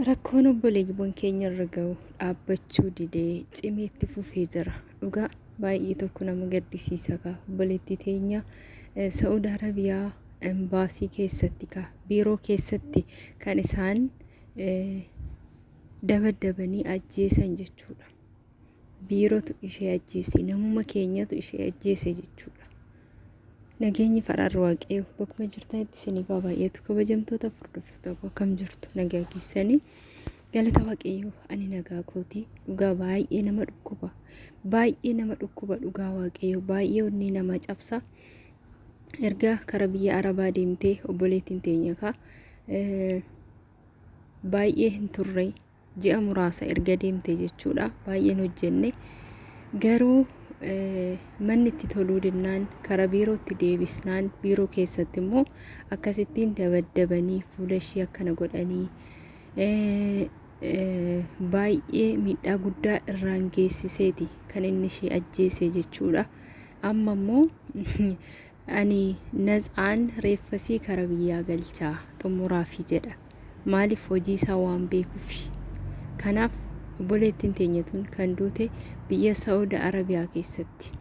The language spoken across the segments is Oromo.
Rakkoon obboleewwan keenya irra ga'u dhaabbachuu didee cimee itti fufee jira. Dhugaa baay'ee tokko nama gaddisiisa kaa obboleettii teenya eh, Sa'ud Arabiyaa embaasii keessatti kaa biiroo keessatti kan isaan eh, dabaddabanii ajjeesan jechuudha. biiratu ishee ajjeese namuma keenyatu ishee ajjeese jechuudha. Nageenyi faraarri waaqayyoo bakkuma jirtanitti isinii baay'eetu kabajamtoota furdoftoota koo akkam jirtu nagaa keessanii galata waaqayyoo ani nagaa kootii dhugaa baay'ee nama dhukkuba baay'ee nama dhukkuba dhugaa waaqayyoo baay'ee onnee nama cabsa erga kara biyya arabaa deemtee obboleettiin teenya kaa baay'ee hin turre ji'a muraasa erga deemte jechuudha baay'een hojjenne garuu manni itti toluu dinnaan karaa biirootti deebisnaan biiroo keessatti immoo akkasittiin dabaddabanii fuula ishii akkana godhanii baay'ee miidhaa guddaa irraan geessiseeti kan inni ishii ajjeese jechuudha amma immoo ani naz'aan reeffasii kara biyyaa galchaa xumuraafi jedha Maaliif hojii isaa waan beekuufi. Kanaaf obboleettiin teenya tun kan duute biyya Saudi Arabiyaa keessatti.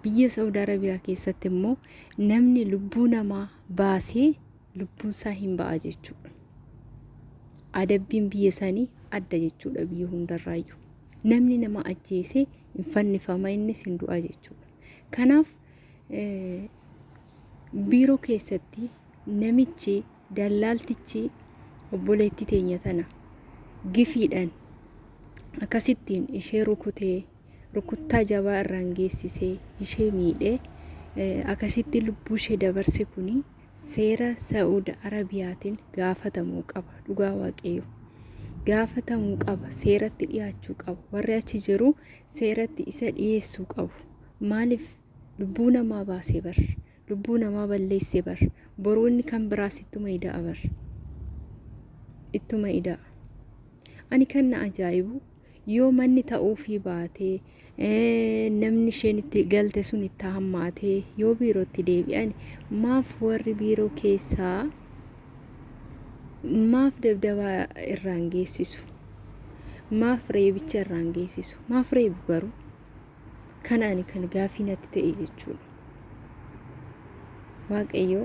Biyya Saudi Arabiyaa keessatti immoo namni lubbuu namaa baasee lubbuun isaa hin ba'a jechuudha. Adabbiin biyya sanii adda jechuudha biyya hundarraayyuu. Namni nama ajjeesee hin fannifama innis hin du'a jechuudha. Kanaaf biiroo keessatti namichi Dallaaltichi obboleettii teenya tana gifiidhaan akkasittiin ishee rukutee rukuttaa jabaa irraan geessisee ishee miidhee akkasitti lubbuu ishee dabarse kuni seera Sa'uud Arabiyaatiin gaafatamuu qaba dhugaa waaqayyo. Gaafatamuu qaba seeratti dhiyaachuu qaba warri achi jiru seeratti isa dhiyeessuu qabu maaliif lubbuu namaa baasee bar lubbuu namaa balleesse bar boruu inni kan biraas ittuma ida'a bar ittuma ida'a ani kan na ajaa'ibu yoo manni ta'uufii baatee namni isheen itti galte sun itti hammaatee yoo biirootti deebi'an maaf warri biiroo keessaa maaf dabdabaa irraan geessisu maaf reebicha irraan geessisu maaf reebu garuu Kana ani kan gaafii natti ta'e jechuudha. Waaqayyo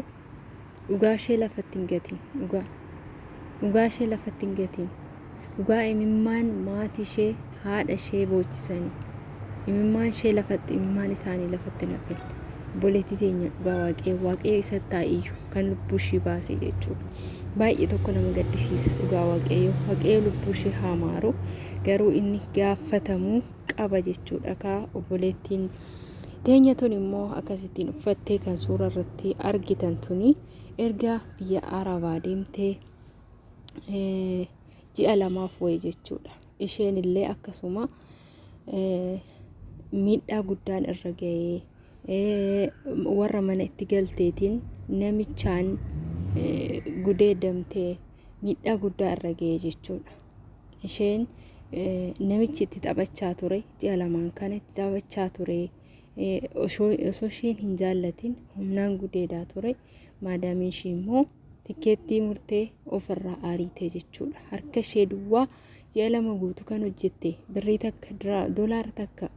dhugaa ishee lafatti hin gatiin dhugaa. Dhugaa ishee lafatti hin gatiin. Dhugaa imimmaan maatii ishee haadha ishee boochisanii. Imimmaan ishee lafatti imimmaan isaanii lafatti hin hafin. Obboleettii teenya dhugaa waaqayyo waaqayyo isatti haa iyyu kan lubbuu ishii baase jechuudha. Baay'ee tokko nama gaddisiisa dhugaa waaqayyo waaqayyo lubbuu ishee haa maaru garuu inni gaafatamu qaba jechuudha kaa obboleettiin teenya tun immoo akkasittiin uffattee kan suura irratti argitan tuni erga biyya arabaa deemtee ji'a lamaaf wayi jechuudha isheen illee akkasuma miidhaa guddaan irra ga'ee warra mana itti galteetiin namichaan gudeedamtee miidhaa guddaa irra ga'ee jechuudha. isheen namichi itti taphachaa ture ji'a lamaan kana itti taphachaa ture osoo isheen hin jaallatin humnaan gudeedaa ture maadaamiin ishee immoo tikkeettii murtee ofirraa ariitee jechuudha harka ishee duwwaa ji'a lama guutuu kan hojjette birrii takka doolaara takka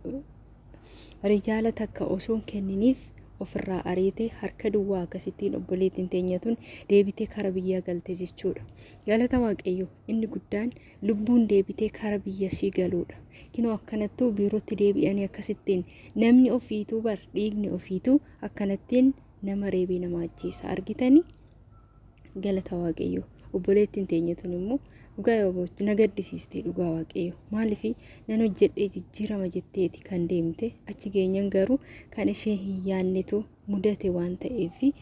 riyaala takka osoo hin kenniniif ofirraa ariitee harka duwwaa akkasittiin obboleettiin teenyatuun deebitee kara biyyaa galte jechuudha. Galata Waaqayyoo inni guddaan lubbuun deebitee kara biyya ishii galuudha. Kinoo akkanattuu biirootti deebi'anii akkasittiin namni ofiituu bar dhiigni ofiituu akkanattiin nama reebee nama ajjeesa argitanii galata Waaqayyoo. Obboleettiin teenyatuun immoo dhugaa yoo gootu na gaddisiistee dhugaa Waaqayyoo. Maaliif nan hojjedhee jijjiirama jetteeti kan deemte achi geenyan garuu kan ishee hin yaannetu mudate waan ta'eefi.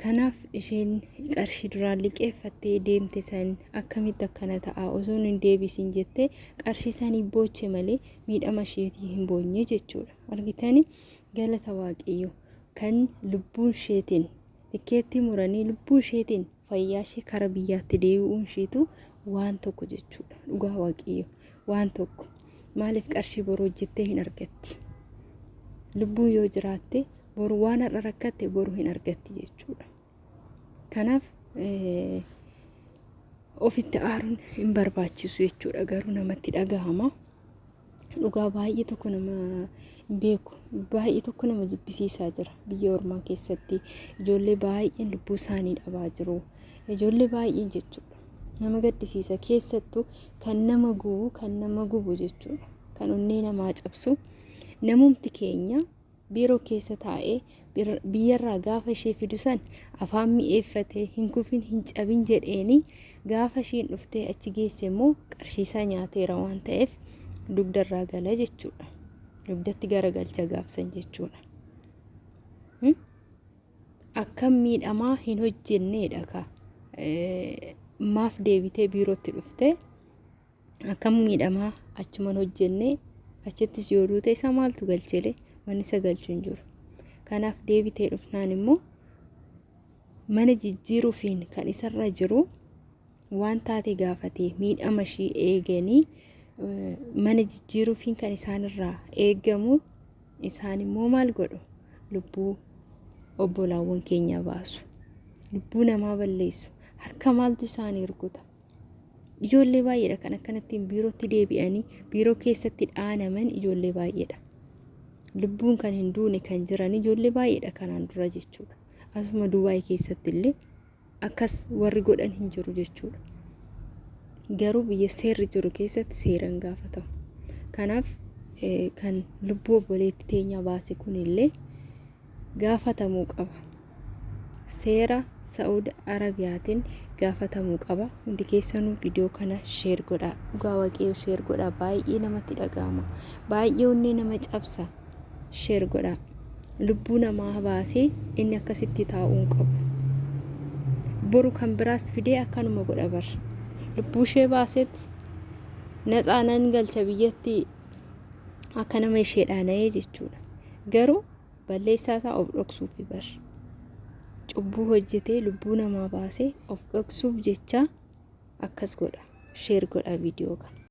Kanaaf isheen qarshii duraan liqeeffattee deemte san akkamitti akkana ta'a osoo hin deebisin jettee qarshii sanii booche malee miidhama isheetii hin boonye jechuudha. Argitanii galata waaqayyoo kan lubbuun isheetiin tikkeettii muranii lubbuu isheetiin fayyaashee kara biyyaatti deebi'uun ishiitu waan tokko jechuudha dhugaa waaqayyo waan tokko maaliif qarshii boru hojjettee hin argatti lubbuun yoo jiraatte boru waan har'a rakkatte boru hin argatti jechuudha kanaaf ofitti aaruun hin barbaachisu jechuudha garuu namatti dhagahama dhugaa baay'ee tokko nama beeku baay'ee tokko nama jibbisiisaa jira biyya ormaa keessatti ijoollee baay'een lubbuu isaanii dhabaa jiru ijoollee baay'een jechuudha nama gaddisiisa keessattuu kan nama gubu kan nama gubu jechuudha kan onnee namaa cabsu namumti keenya Biiroo keessa taa'ee biyyarraa gaafa ishee fidu san afaan mi'eeffatee hin kufin hin cabin jedheeni gaafa ishiin dhuftee achi geesse immoo qarshiisaa nyaateera waan ta'eef dugdarraa gala jechuudha. Dugdatti garagalcha gaafsan jechuudha. Akkam miidhamaa hin hojjenneedha ka maaf deebitee biirootti dhuftee Akkam miidhamaa achuman hojjenne achittis yoo duute isa maaltu galchele wanni isa galchu hin jiru. Kanaaf deebitee dhufnaan immoo mana jijjiiruufiin kan isarra jiru waan taate gaafatee miidhama ishii eeganii eh, mana jijjiiruufiin kan isaanirraa eegamu isaan immoo maal godhu lubbuu obbolaawwan keenya baasu lubbuu namaa balleessu harka maaltu isaanii rukuta. Ijoollee baay'eedha kan akkanattiin biirootti deebi'anii biiroo keessatti dhaanaman ijoollee baay'eedha. Lubbuun kan hin duune kan jiran ijoollee baay'eedha kanaan dura jechuudha. Asuma Dubaay keessatti illee akkas warri godhan hin jiru jechuudha. Garuu biyya seerri jiru keessatti seeraan gaafatamu. Kanaaf kan lubbuu obboleetti teenyaa baase kun illee gaafatamuu qaba. seera Saud Arabiyaatiin gaafatamuu qaba. Hundi keessanuu viidiyoo kana sheer godhaa. Dhugaa waaqayyoo sheer godhaa. Baay'ee namatti dhaga'ama. Baay'ee onnee nama cabsa. Sheer godhaa. Lubbuu namaa baasee inni akkasitti taa'uu hin qabu. Boru kan biraas fidee akkanuma godha bar. Lubbuu ishee baaseet naxaa nan galcha biyyatti akka nama ishee dhaana'ee jechuudha. Garuu Balleessaa isaa of dhoksuufi bar. Cubbuu hojjetee lubbuu namaa baasee of dhoksuuf jecha akkas godha. Sheer godha viidiyoo kana.